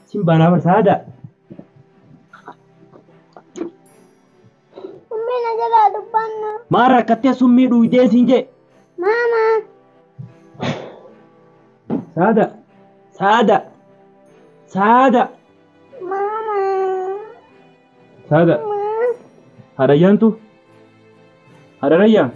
Sin baanaa barsaa aadaa. Ummii na jalaa dubbannu. Maal rakkattee summii dhuydee siin jee. Maama. Saada. Saada. Saada. Maama. Saada. Maama. Haadha ayyaantu. Haadha rayyaa.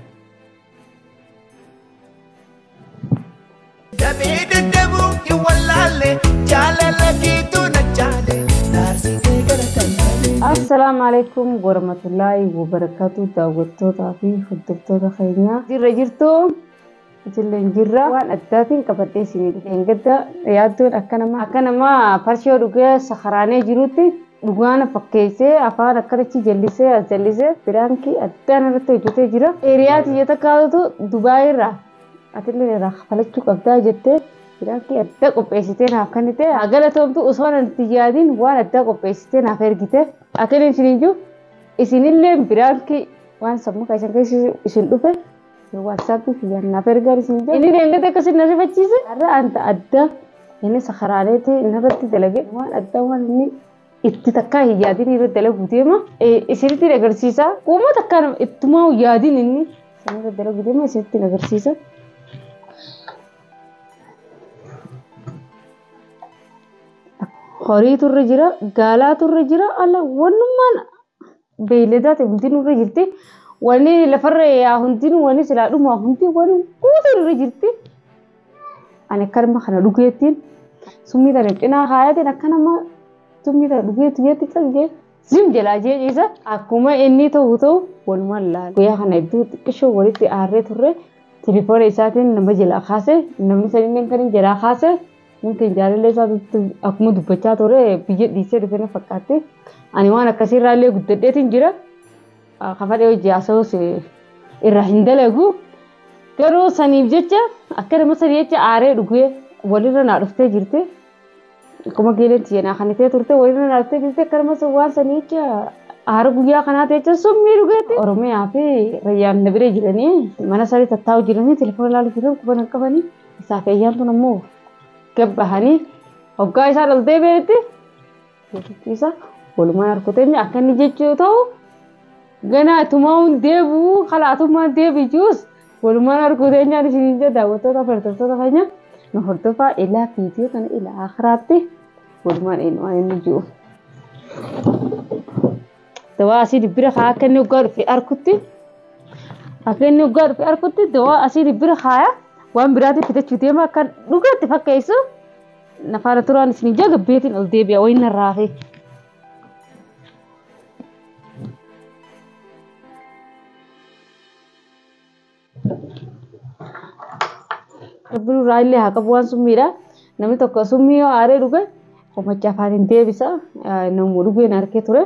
Damee dadhabuu hin wallaalle jaalala keetu na jaale naarsitee gara tajaajile. Assalaamu alaikum warahmatullaahi wabarakaatu daawwattootaa fi hordoftoota keenyaa jirra jirtu itilleen jirra waan addaatiin qabadhee isinii dhufeen gadda yaaddoon akka nama akka nama farshoo dhugee sakaraanee jirutti Dhugaa na fakkeessee afaan akkanachi jallisee as jallisee piraankii addaan irratti hojjetee jira. Hiriyaa tiyya takkaatu Dubaayii irraa atillee irraa kafalachuu qabdaa jettee piraankii addaa qopheessitee naaf kennite. Haa galatoomtu osoo nan itti yaadiin waan addaa qopheessitee naaf ergite. Akkan isiniin jiru isinillee piraankii waan sammuu keessan keessa isin dhufe Waatsaappi kiyya naaf ergaa isin jedhu. Inni deengate akkasiin na rifachiise. Har'a anta adda inni sakaraaleeti narratti dalage waan adda waan inni itti takkaa hin yaadin irra dalagu deema. Isinitti agarsiisa. Uuma takkaa nama ittumaa yaadin inni sanirra dalagu deema isinitti agarsiisa. Horii turre jira, gaalaa turre jira, ala wannummaan beeyladaa ta'e hundi nurra jirti. Wani lafarra yaa hundi wani silaa dhumaa hundi wani guutuu nurra jirti. Ani akka nama kana dhugeettiin summii tana cinaa kaayatiin akka nama summii tana dhugeetti jeetti calgee zim jalaa jee ciisa akkuma inni ta'u ta'u walumaan laala. Guyyaa kana iddoo xiqqishoo walitti aarree turre tilifoona isaatiin nama jalaa kaase namni saniin kan jalaa kaase Nuti jaalallee isaatti akkuma dubbachaa ture biyya dhiisee dhufe na fakkaatti. Ani waan akkasii irraa illee guddadheetiin jira. Kafadhee hojii haasawus irraa hin dalagu. Garuu saniif jecha akka nama sanii jecha aaree dhugee walirra naa dhuftee jirti. Akkuma geeleen tiyya naa kanitee turte walirra naa dhuftee jirti akka nama waan sanii jecha aara guyyaa kanaa ta'e jecha summii dhugeetti. Oromiyaa fi rayyaan na bira jiranii mana isaanii tattaa'u jiranii telefoona ilaalu jiran quban hin qabanii. Isaa fi ayyaan tun ammoo gabbahanii hoggaa isaan ol deebi'anitti jechuutti isaa walumaan harkuteemni akka inni jechuu yoo ta'u ganaa tumaa'uun deebi'uu kalaatummaan deebi'uus walumaan harkuteenyaan isiniin jedha daawwattoota hordoftoota keenya nu hordofaa ilaa viidiyoo kana ilaa akiraatti walumaan eenyumaan inni jiru. dawaa asii dibbira kaa akka inni waggaa dhufe arkutti akka inni waggaa dhufe arkutti dawaa asii dibbira kaaya waan biraatiin fitachuu deema akka dhugaatti fakkeessu nafaana turaan isin jaga beetiin ol deebi'a wayin narraa fi. Rabbi nurraa illee haa qabu waan summiidha. Namni tokko summii yoo aaree dhuge qomacha afaan hin deebisa. Namuu dhugeen harkee ture.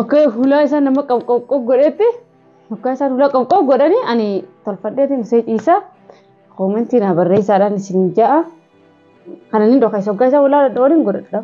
Okkee hulaa isaa nama qopqop godhetti hokkaa isaan hulaa qopqop godhani ani tolfadheeti musee ciisaa koomentii naa barreessaadhaan isin ja'a. Kana ni dhoka isa hoggaa isaa hulaa dhadhoon hin godhadha.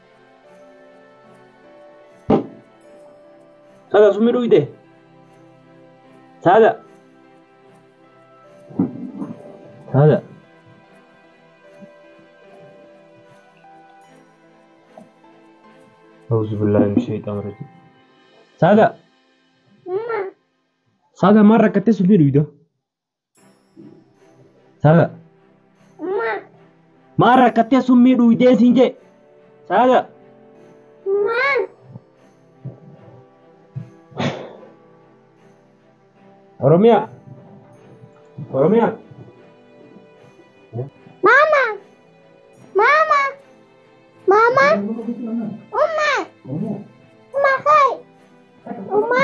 Sada summi dhugde. Sada. Sada. Auzu billahi min shaytaan rajim. Sada. Sada maal rakkattee summi dhugda? Saaga. Maal? Maal rakkattee summii dhuydee siin jee? Saaga. Maal? Oromiyaa. Oromiyaa. Maama! Maama! Maama! Umma! Umma kai! Umma!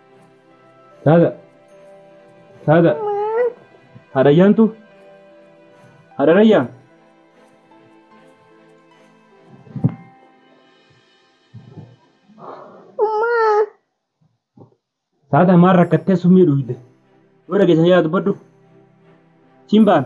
Saada. Saada. Haadha ayyaantu. Haadha rayyaa. Saada maal rakkattee summii dhugde. Yoo dhageessan yaa dubbadhu. Simbaan.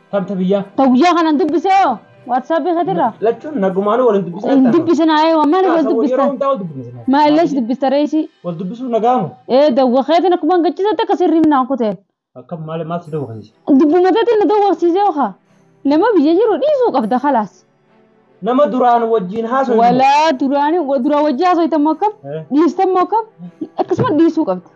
Tamta biyyaa. Ta guyyaa kanan dubbise hoo waatsaappii keetirraa. Lachuun nagumaanuu waliin dubbisaa Hin dubbisina ee waan maaliif wal Yeroo dubbistan? hundaa wal dubbisna. Maa illee si dubbista reesii? Wal dubbisuu nagaamu. Ee dawwa keetiin akkuma hin gachisatte akka sirrii minaan kuteen. Akka maal maal si dawwaqsiise? Dubbuma teetiin na dawwaqsiisee okaa. Nama biyya jiru dhiisuu qabda kalaas. Nama duraan wajjin haasofnu. Walaa duraan duraan wajjin haasoftan moo akkam? Eh. Dhiistan moo akkam? Akkasuma dhiisuu qabda.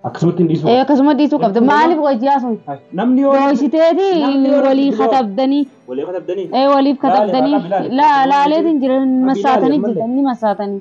Akkasumatti hin dhiisu. Eh, Akkasuma dhiisuu qabda. Jechuun Maaliif nama- wajjin haasofnu? Namni yoo Dooysiteeti namni yoo walii rakkoo- katabdanii. Walii katabdanii. Eh, waliif Laale, katabdanii. laale, laale. La- Laaleetiin jiran massaatanii Laale, jirtan ni massaatanii.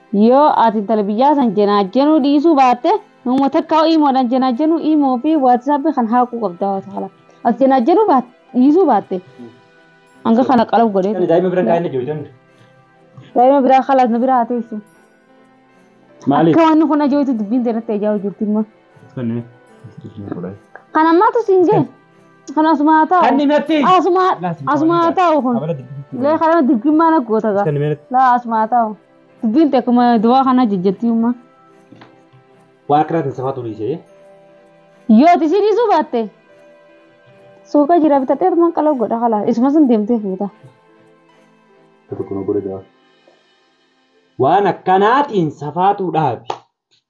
Yoo ati intala biyyaa san jenaajjenuu dhiisuu baatte nama takka iimoodhaan jenaajjenuu iimoo fi waatsaappi kan haaquu qabda waan ta'ala. Ati jenaajjenuu baatte dhiisuu baatte hanga kana qalab godhee. Ani daa'ima bira kaa'inna jiru jenna. Daa'ima biraa kalaas na biraa haa teessu. Maaliif? Akka wanni kun ajoo'itu dubbiin teerratti ajaa'u jirti immoo. Kani. Kan ammaatu siin ga'e. Kan asuma haa taa'u. Kanni natti. Asuma asuma haa taa'u kun. Abala dibbi. Lee kana dirqimmaa na goota gaa. Kanni meeratti. Laa asuma haa taa'u. Dubbiin akkuma duwaa kana jijjattii ummaa. Waan akkanaa tan safaa turii see. Yoo ati ishii dhiisuu baatte suuqa jira bitatee tumaan qaloo godha kalaa isuma sun deemtee fuuta. Tokko tokko na godhe dawaa. Waan akkanaatiin safaatuu dhaabi.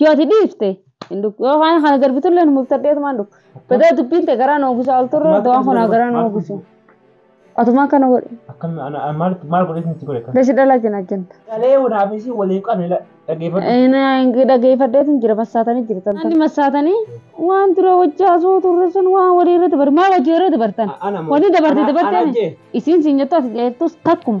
Yoo ati dhiifte hin dhufu. Yoo kana kana darbitu illee numuuf tadheetu maan dhufu. Badaa dubbiin ta'e garaa na ogusaa ol turre dawaan kun haa garaa na ogusu. Atuma akkana godhe. Akkam ana ana- maal maal godhee itti godhe kan. Dashi dhala kina kenta. Galee wanaaf isii waliin qabne la- dhaggeeffadhu. Dhageeffadheetu jira massaatanii jiru tan. Inni massaatanii waan dura wajjaa soo turre sun waan walii irra dabartan. Maa wajjii irra dabartan? A- ana moo- Wanni dabarte ana- ana dabartee ajee. isiin siin jettu ati jeertus takkuma.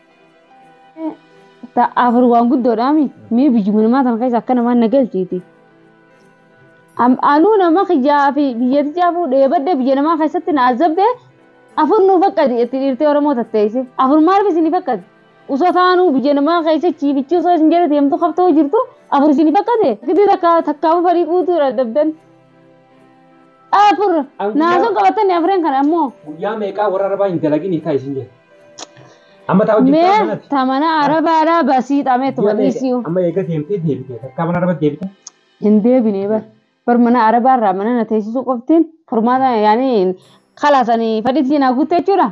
Afur waan guddoodhaami. Mee biyyuma namaa sana keessa akka namaan na galchiiti. Anuu nama kiyyaa fi biyyatti jaafuu dheebadde biyya namaa keessatti na azabde afur nuu fakkati itti dhiirtee Oromoo tatteesse. Afur maaliif isin fakkati? Osoo taanuu biyya namaa keessa chiifichi osoo isin jedhu deemtu qabtoo jirtu afur isin fakkate. Gidii takka takkaama farii guutuu dadhabdan. Afur. An Naa guyyaa- sun qabattanii afreen kana ammoo. Guyyaa meeqaa warra arabaa hin dalagin hiikaa isin jedhe. Amma taa hojii Mee bitaa sanatti. tamana arabaadhaa basii xamee tuma dhiisii. Amma eega deemtee deebitee takkaa mana arabaa deebitee. Hin deebinee bar. Bar mana arabaarraa mana na teessisuu qoftiin furmaata yaanii kalaasanii fadhiitiin haa guutte jechuudha.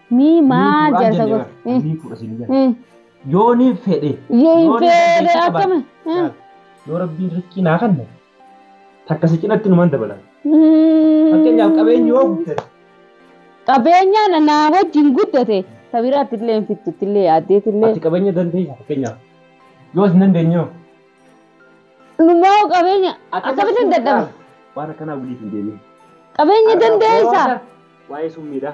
Mii Nii maa fuudhaan jaarsa jenne gosa. bara. Nii fuudha siin jenne. Yoo Yoo niin fedhe. Yoo hin niin fedhe dandeettii qabaate. akkami. Laal, Yoo rabbiin riskii naa kanne takka si cinatti numan dabalan. Fakkeenyaaf qabeenyi yoo guddate. Qabeenyaan anaa wajjin guddate sabiraatti illee hin fittutti illee yaaddeetti illee. Ati qabeenya dandeessa fakkeenyaaf. Yoo hin dandeenye hoo? Numaa qabeenya akkamitti hin dadhabe. Waan akkanaa waliif hin deebiin. Qabeenya dandeessa. Waa'ee summiidhaa.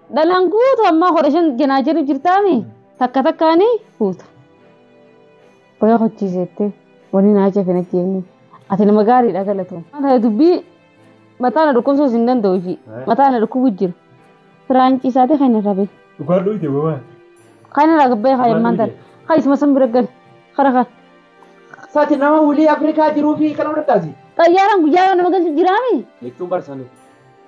Dhalaan guutu ammaa kudha shan jenaa jiru jirtaami takka takkaani fuuta. Qoyaa hojiiseettee waliin haachaa fi natti eegnu. Ati nama gaariidha galatoom. Mataa dubbii mataa na dhukkubsuus hin danda'u hojii. Mataa na dhukkubu jira. Firaanci isaati kan irra bahe. Dhugaa dhuute bobaa. Kan irra gabbee kan ilmaan tana. Kan isuma san bira gale. Kara kan. Sati nama wulii Afrikaa jiruu fi kana fudhataasi. Xayyaaraan guyyaa yoo nama galchu jiraami. Jechuun barsanuu.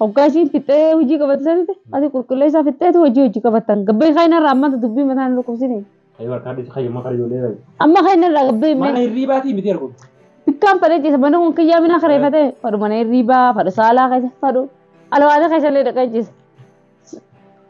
Hoggaa isiin fixxee hojii qabatte sanitti ati qulqulleessaa fixxeetu hojii hojii qabattan. Gabbee kayna irraa ammanta dubbii mataa hin dhukkubsini. Ayyuu harkaa dhiisi kayya amma kara ijoollee bayi. Amma kayna irraa gabbee mee. Mana hirriibaatii miti ergu. Bikkaan fadhee ciisa mana kun kiyyaa minaa kareeffatee fadhu mana hirriibaa fadhu saalaa keessa fadhu alwaada keessa illee dhaqee ciisa.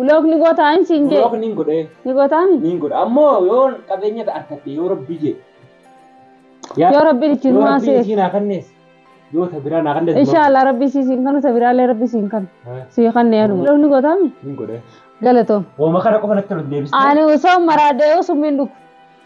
Block ni gootaa hin siin jee. Block niin godhee. Ni gootaa mi? Niin godha. Ammoo yoo qabeenya ta arkadhe yoo rabbii jee. Yoo rabbiin ittiin Yoo rabbiin maaseef. isiin haa kannees. Yoo ta biraa naa kannees. Inshallah rabbi sii siin kanu ta biraalee rabbi siin kanu. Sii kanne anuma. Block ni gootaa mi? Niin godhee. Galatoom. Hooma kana qofa natti ol deebistee. Ani osoo maraadhee osoo hin dhufu.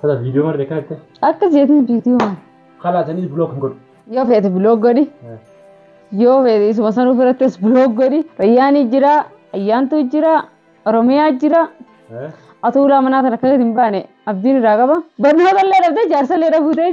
Tata video marre kan itti. Akkas jeetiin biitii uuman. Kala sanii blog hin godhu. Yoo feete biloog godhi. Yoo feete isuma sanuu birattis biloog godhi. Rayyaanii jira, ayyaantuu jira, oromiyaa jira. Atuulaa manaa tana akka hin baane abdiin irraa qaba. Barnoota illee dhabdee jaarsa illee dhabuu ta'e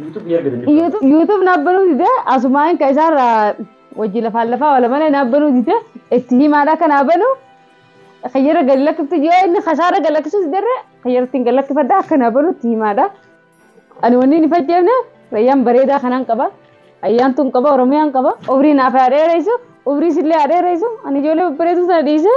YouTube ni argatan jechuudha. YouTube YouTube na banuu dide asumaan ka isaarra wajji lafaan lafaa wala malee na banuu dide itti himaadha kan na banu kayyara gad lakkiftu yoo inni kasaara gad lakkisu diderre kayyara ittiin gad lakkifadha akka na banu itti himaadha. Ani wanni hin fayyadamne rayyaan bareedaa kanaan qaba. Ayyaan tun qaba Oromiyaan qaba. Umrii naaf haa dheeraysu. Umrii sillee haa dheeraysu. Ani ijoollee babbareedu sana dhiisee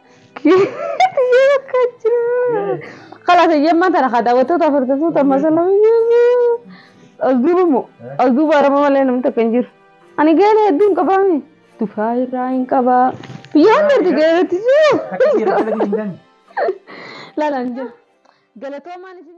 Kiyyoo bakka jira. Kalaas eyyammaa tana haa daawwattoota afurtatu tamma sana as duuba moo as duuba arama malee namni takka hin jiru. Ani geela hedduu hin qabaami. Tufaa irraa hin qabaa. Biyya hunda erga geelatti jiru. Laalaan jira. Galatoomaan isin.